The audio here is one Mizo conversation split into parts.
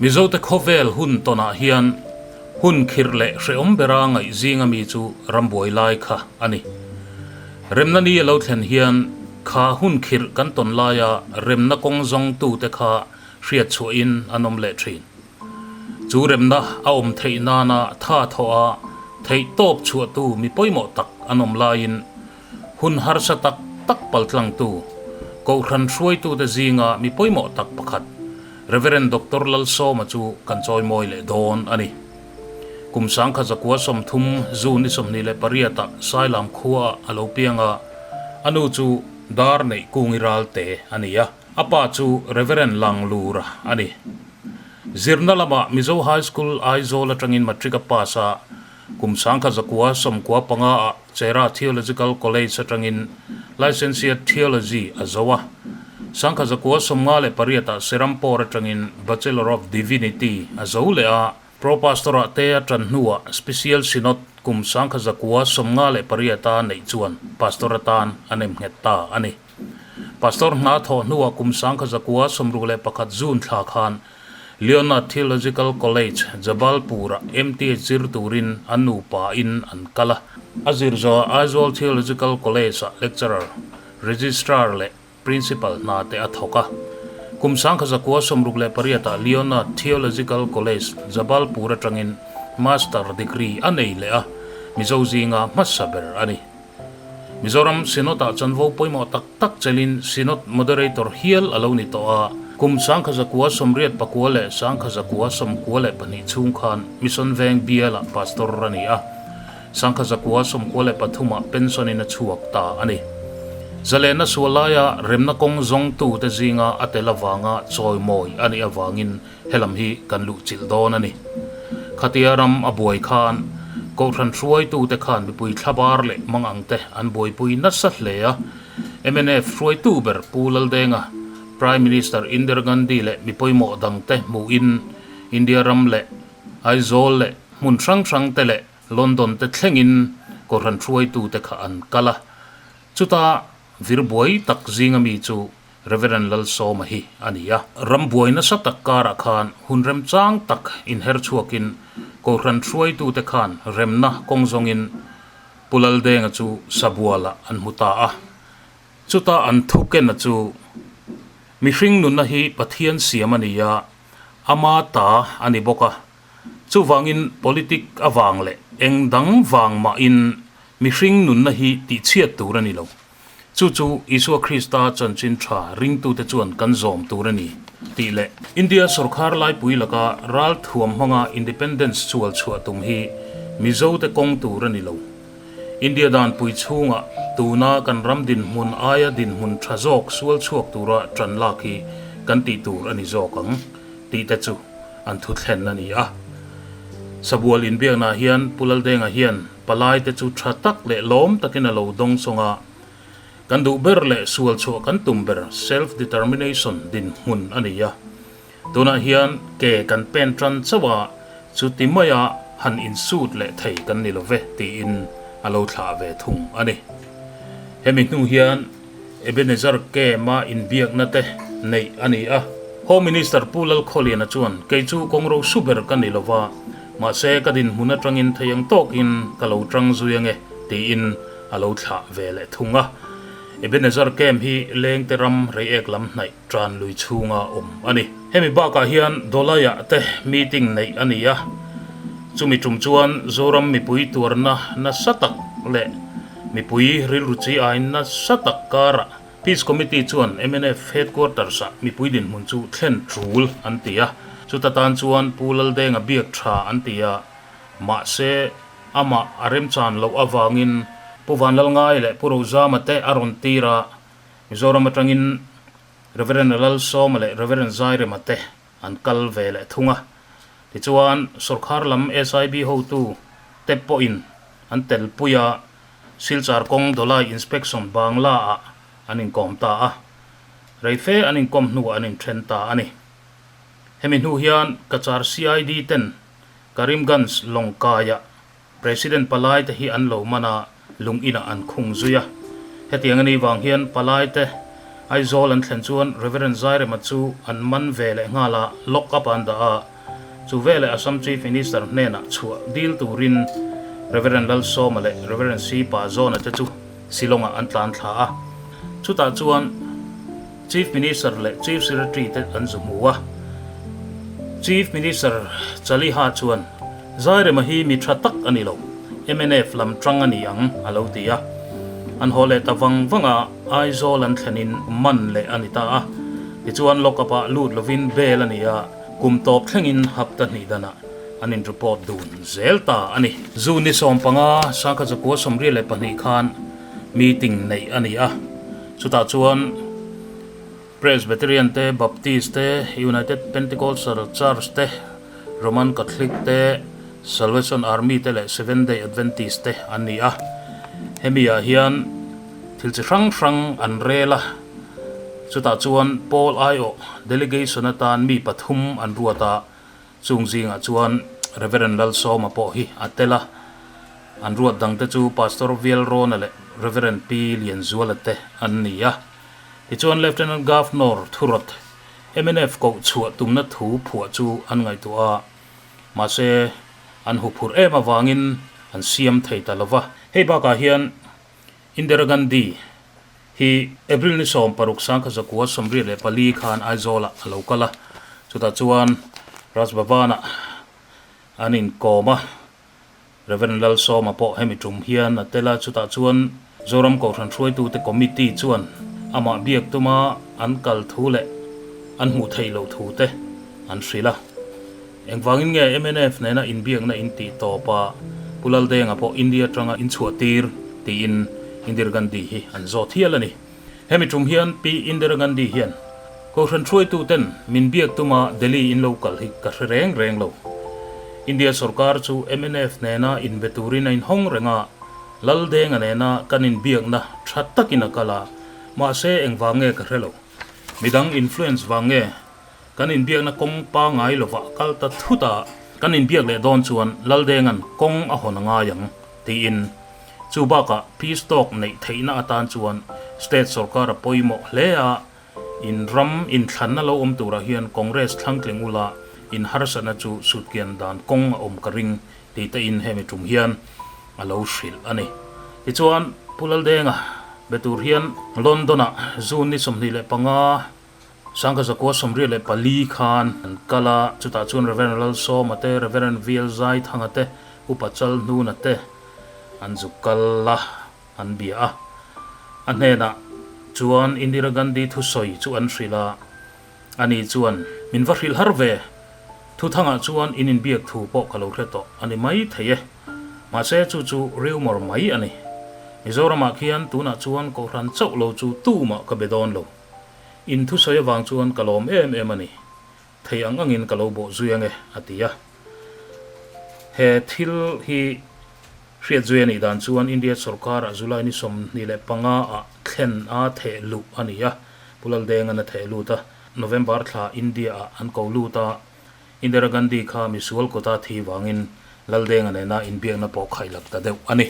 Mizote khawvel hun tawnah hian hun khirh leh hrehawm bera ngaih zing a mi chu ram buai lai kha a ni. Remna ni a lo thlen hian kha hun khirh kan tawn laia remna kawng zawng tute kha hriat chhuahin an awm leh thin. Chu remna a awm theih nana tha thawh a theih tawp chhuahtu mi pawimawh tak an awm laiin hun harsa tak tak pal tlangtu Kohhran hruaitute zinga mi pawimawh tak pakhat Reverend Doctor Lalsawma chu kan chawimawi leh dawn a ni. Kum sangkhat zakua sawmthum June i sawmhnih leh pariata Sailam khuaa a lo pianga a nu chu dar neih kung i ral te a ni a. A pa chu Reverend Lang Lura a ni. Zirna lama Mizo High School, Aizawl atangin Matric a pass a, kum sangkhat zakua sawm kua panga ah Chera Theological College atangin Licenciate Theology a zoh a. Sangkhat zakua sawm nga leh pariat ah Serampore atangin Bachelor of Divinity a zoh leh a. Pro-Pastor ah te a tan hnu ah Special Synod kum sangkhat zakua sawm nga leh pariat a neih chuan Pastor atan a nem nghet ta a ni. Pastor hna thawh hnuah kum sangkha zakua sawmruk leh pakhat June thla khan Leonard Theological College, Jabalpur-ah MTH zir turin an nupa in an kal a. A zir zawha Aizawl Theological College-ah Lecturer, Registrar leh Principal hna te a thawk a. Kum sangkha zakua sawmruk leh pariatah Leonard Theological College, Jabalpur atangin Master Degree a nei leh a, Mizo zinga hmasa ber a ni. Mizoram Synod ah chuan vo pawimawh tak tak chelin Synod Moderator hial a lo ni tawh a, kum sangkha zakua sawmriat pakua leh sangkha zakua sawmkua leh pahnih chhung khan Mission veng bial ah Pastor a ni a, sangkha zakua sawmkua leh pathum ah Pension in a chhuak ta a ni. Zalenna sual lai ah remna kawng zawngtu te zing a a tel avang a chawimawi a nih avang in He lam hi kan luhchilh dawn a ni. Khatia ram a buai khan Kohhran hruaitute khan mipui thla bar leh mang angte an buaipui nasa hle a. Mnf hruaitu ber Pu Laldenga Prime Minister Indira Gandhi leh mi pawimawh dangte hmuhin India ram leh Aizawl leh hmun hrang hrangte leh London te thlengin Kohhran hruaitute kha an kal a. Chuta vir buai tak zinga mi chu Reverend Lalsawma hi a ni a. Ram buai nasa tak karah khan hun rem chang tak inher chhuakin Kohhran hruaitute khan remna kawng zawngin Pu Laldenga chu Sabualah an hmu ta a. Chuta an thu kena chu, Mihring nunna hi Pathian siam a ni a, ama ta a ni bawk a. Chuvangin politic avang leh eng dang vang mahin mihring nunna hi tihchhiat tur a ni lo. Chu chu Isua Krista chanchin tha ringtute chuan kan zawm tur a ni tih leh India sorkar laipui laka ral thuam hmanga Independence sual chhuah tum hi Mizote kawng tur a ni lo. India danpui chhunga tuna kan ram dinhmun aia dinhmun tha zawk sual chhuak tura ṭan lak hi kan tih tur a ni zawk ang tihte chu an thuthlen a ni a. Sabual inbiaknah hian Pu Laldenga hian. palai te chu tha tak leh lawm takin a lo dawng sawng a, kan duh ber leh sual chhuah kan tum ber, self determination, dinhmun a ni a. Tunah hian ke kan pen tan chauh a, chu ti mai a han insut leh thei kan ni lo ve, tiin a lo thlah ve thung a ni. Hemi hnu hian. Ebenezer Kema inbiakna te neih a ni a. Home Minister Pu Lalkhawliana chuan, Kei chu kawng rosu ber ka ni lova, mahse ka dinhmun atangin thei ang tawkin ka lo tang zui ange, tiin a lo thlah ve leh thung a. Ebenezer Kema hi lengte ram reiek lam hnaih. tan lui chhunga awm a ni. Hemi bakah hian Dawlaia te meeting neih a ni a, chumi tum chuan Zoram mipui tuarna nasa tak leh mipui rilruchi aiin nasa tak karah Peace Committee chuan MNF Headquarters-a mipui dinhmun chu thlen tul an ti a. Chuta tan chuan Pu Laldenga biak tha an ti a, mahse amah a remchan loh avangin Pu Vanlalngai leh Pu Rosama te a rawn tir a. Mizoram atangin Rev. Lalsawma leh Rev. Zairema te an kal ve leh thung a, tichuan sawrkhar lam SIB hotu te pawhin an telpui a, Silchar kawng Dawlai Inspection Bangla ah an inkawm ta a, rei fe an inkawm hnuah an inthen ta a ni. Hemi hnu hian Kachar CID ten Karimganj lawngkaiah President Palaite hi an lo man a, lung inah an khung zui a. Hetiang a ni vang hian Palaite, Aizawl an thlen chuan Reverend Zairema chu an man ve leh nghal a lock up an dah a. Chu veleh Assam Chief Minister hnenah chhuah dil turin Reverend Lalsawma leh Reverend Sipa Zawnate chu, Shillongah an tlan thla a, chutah chuan Chief Minister leh Chief Secretary te an zu hmu a. Chief Minister Chaliha chuan Zairema hi mi tha tak a ni lo, mnf lamtang a ni ang a lo ti a. An haw leh ta vang vanga Aizawl an thlenin man leh a ni ta a, tichuan lock-up-ah lut lovin bel a ni a, kum tawp thlengin hap ta hnih danah an in report dun zel ta a ni. June ni sawm panga Sangkhajakua sawmriah leh pahnih khan meeting neih a ni a, chutah chuan Presbyterian te, Baptist te, United Pentecostal Church te, Roman Catholic te, Salvation Army te leh Seventh Day Adventist te an ni a, hemi ah hian thil chi hrang hrang an rel a, chutah chuan Paul aiawh delegation atan mi pathum an ruat a. Chung zingah chuan Reverend Lalsawma pawh hi a tel a, an ruat dangte chu Pastor Vialrawna leh Reverend Pi Lianzuala te an ni a. Tichuan Lieutenant Governor thurawt mnf kohchhuah tumna thu phuah chu an ngaihtuah a, mahse an huphurh em avangin an siam thei ta lo va. Hei bakah hian Indira Gandhi hi April ni sawm paruk sang kha zakua sawmriat leh pali khan Aizawlah a lo kal a, chutah chuan Raj Bhavanah an inkawm a, Rev. Lal Sawma pawh hemi tum hian a tel a, chutah chuan Zoram Kohhran hruaitute committee chuan amah biak tuma an kal thu leh an hmuh theih loh thu te an hrilh a. Engvangin nge MNF nena inbiakna in tih tawp a, Pu Laldenga pawh India tanga in chhuah tir tiin Indira Gandhi hi an zawt hial a ni. Hemi tum hian Pi Indira Gandhi hian, Kohhran hruaituten min biak tuma Delhi in lo kal hi ka hre reng reng lo. India sorkar chu MNF nena in be turin a in hawng reng a, Laldenga nena kan in biakna tha takin a kal a, mahse engvang nge ka hre lo? Midang influence vang nge Kan inbiakna kawng pa ngai lova kal ta thut a, kan inbiak leh dawn chuan Laldenga'n kawng a hawn a ngai ang, tiin chu bakah peace talk neih theihna atan chuan state sorkara pawimawh hle a in ram in thlanna lo awm turah hian Congress thlangtling ula in harsatna chu sutkian dan kawng a awm ka ring tih te in hemi tum hian a lo hrilh a ni. Tichuan Pu Laldenga be tur hian London-a June ni sawmhnih leh panga Sangha Zakua Sawmriat leh pali khan an kal a, chutah chuan Reverend Lalsawma te, Reverend Vialzai Thanga te, Upa Chalhnuna te an zuk kal la an bia a. A hnenah chuan Indira Gandhi thusawi chu an hrilh a, a ni chuan, Min va hrilh har ve, Thuthangah chuan in inbiak thu pawh ka lo hre tawh a ni maithei e. Mahse chu chu riumawr mai a ni. Mizoramah khian tunah chuan kohhran chauh lo chu tumah ka be dawn lo. In thu sawi avang chuan ka lawm em em a ni. Thei ang angin ka lo bawh zui ang e, a ti a. He thil hi hriat zui a nih dan chuan India sorkara July ni sawmhnih leh panga ah thlen a theh luh a ni a, Pu Laldengan a theh lut a. November thla India ah an ko lut a, Indira Gandhi kha misual quota thi vangin Laldenga nena inbiakna pawh khaihlak ta deuh a ni.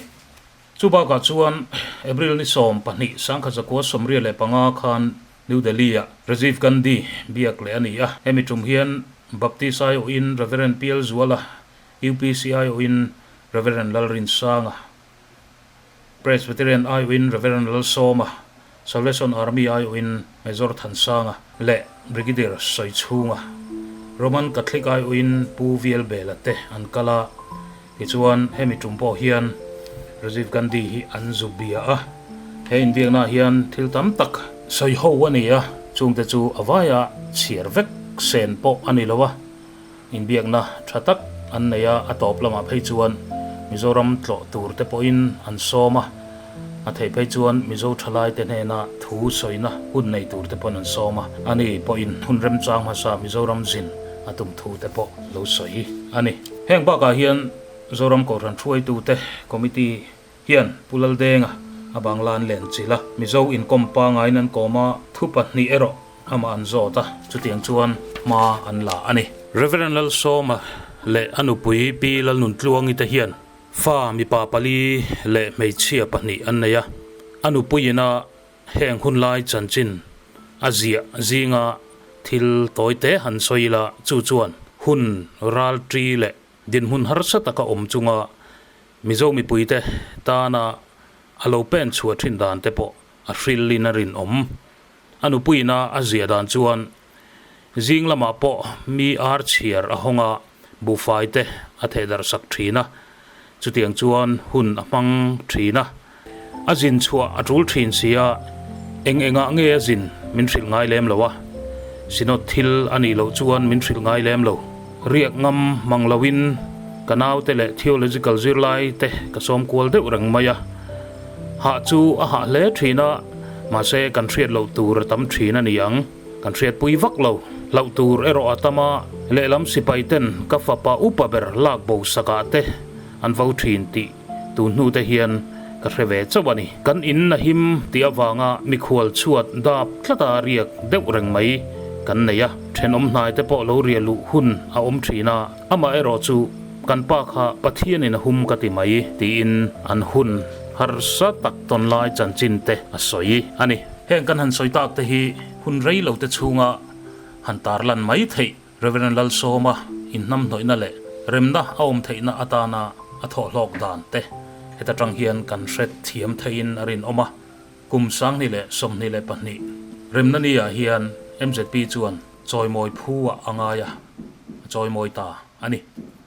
Chu bakah chuan April ni sawm pahnih sangkhat zakua sawmriat leh panga khan New Delhi-ah Rajiv Gandhi biak leh a ni a, hemi tum hian Baptist aiawhin Reverend Pial Zuala, UPC aiawhin Reverend Lalrinsanga, Presbyterian aiawhin Reverend Lalsawma, Salvation Army aiawhin Major Thansanga leh Brigadier Sawichhunga, Roman Catholic aiawhin Pu Vielbela te an kal a, tichuan hemi tum pawh hian Rajiv Gandhi hi an zu bia a. He inbiaknaah hian thil tam tak sawi ho a ni a, chungte chu a vaiah chhiar vek sen pawh a ni lo a. Inbiakna tha tak an nei a, a tawp lamah phei chuan Mizoram tlawh tur te pawhin an sawm a, a theih phei chuan Mizo thalai te hnena thu sawina hun nei tur te pawhin an sawm a, a ni pawhin hun remchang hmasa Mizoram zin a tum thu te pawh lo sawi a ni. Heng bakah hian Zoram Kohhran thuaitute, Committee, Hian Pu Laldenga a bang lan len chilh a, Mizo inkawm pangaiin an kawm a, thu pahnih erawh amah an zawt a, chutiang chuan hma an la a ni. Rev. Lalsawma leh a nupui Pi Lalnuntluangi te hian fa mipa pali leh hmeichhia pahnih an nei a, a nupui ina heng hun lai chanchin a ziah zinga thil tawi te han sawi ila, chu chuan hun ralṭi leh dinhmun harsa taka awm chunga Mizo mipuite tana a lo pen chhuah thin dan te pawh a hrilin a rinawm. A nupuina a ziah dan chuan zing lamah pawh mi ar chhiar a hawnga buhfaite a thehdarhsak thin a, chutiang chuan hun a hmang thin a. A zin chhuah a tul thin si a, eng engah nge a zin min hrilh ngai lem lo a, Synod thil a nih loh chuan min hrilh ngai lem lo. Riak ngam hmang loin ka naute leh theological zirlaite ka sawm kual deuh reng mai a, hah chu a hah hle thin a, mahse kan hriat loh tur a tam thin a ni ang, kan hriat pui vak lo. Hlauh tur erawh a tam a, lehlam sipaiten ka fapa upa ber lak bo sakah te an vo thin tih Tu hnute hian ka hre ve chauh a ni. Kan in a him tih avanga mikhual chhuat dap tlata riak deuh reng mai kan nei a. Thenawm hnaite pawh lo riah luh hun a awm thin a, amah erawh chu kan pa kha Pathianin a hum ka ti mai tiin an hun harsa tak tawn lai chanchin te a sawi a ni. Heng kan han sawi tak te hi hun rei lo te chhunga han tarlan mai theih. Rev. Lalsawma inhnamhnawihna leh remna a awm theihna atana a thawhlawk dan te heta tang hian kan hret thiam theihin a rinawm a, kum sangni leh sawmhnih leh pahnih remna ni ah hian MZP chuan chawimawi phu ah a ngai a, a chawimawi ta a ni.